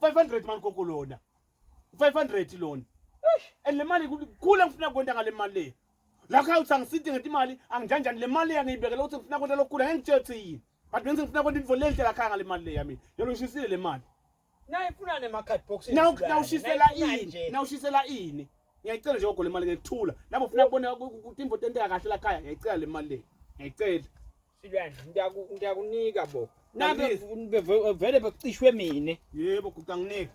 500 mani gogo lona 500 lona and le mali kukhula ngifuna kwenta ngale mali le lakho awuthi angisidi ngeti imali angijanjani le mali yangiyibekela ukuthi ngifuna kwenta lokukhula ngeke ngitshele ukuthi yini but benze ngifuna kwenta into lenhle lakhaya ngale mali le yami yona ngishisile le mali naye funa ne card box nawushisela ini nawushisela ini ngiyayicela nje gogo le mali ngekuthula nabo ufuna kubona imvo tenteka kahle lakhaya ngiyayicela le mali le ngiyayicela Silwane ngiyaku ngiyakunika bo. Nabe beve- vele becishwe mina. Yebo gudanginike.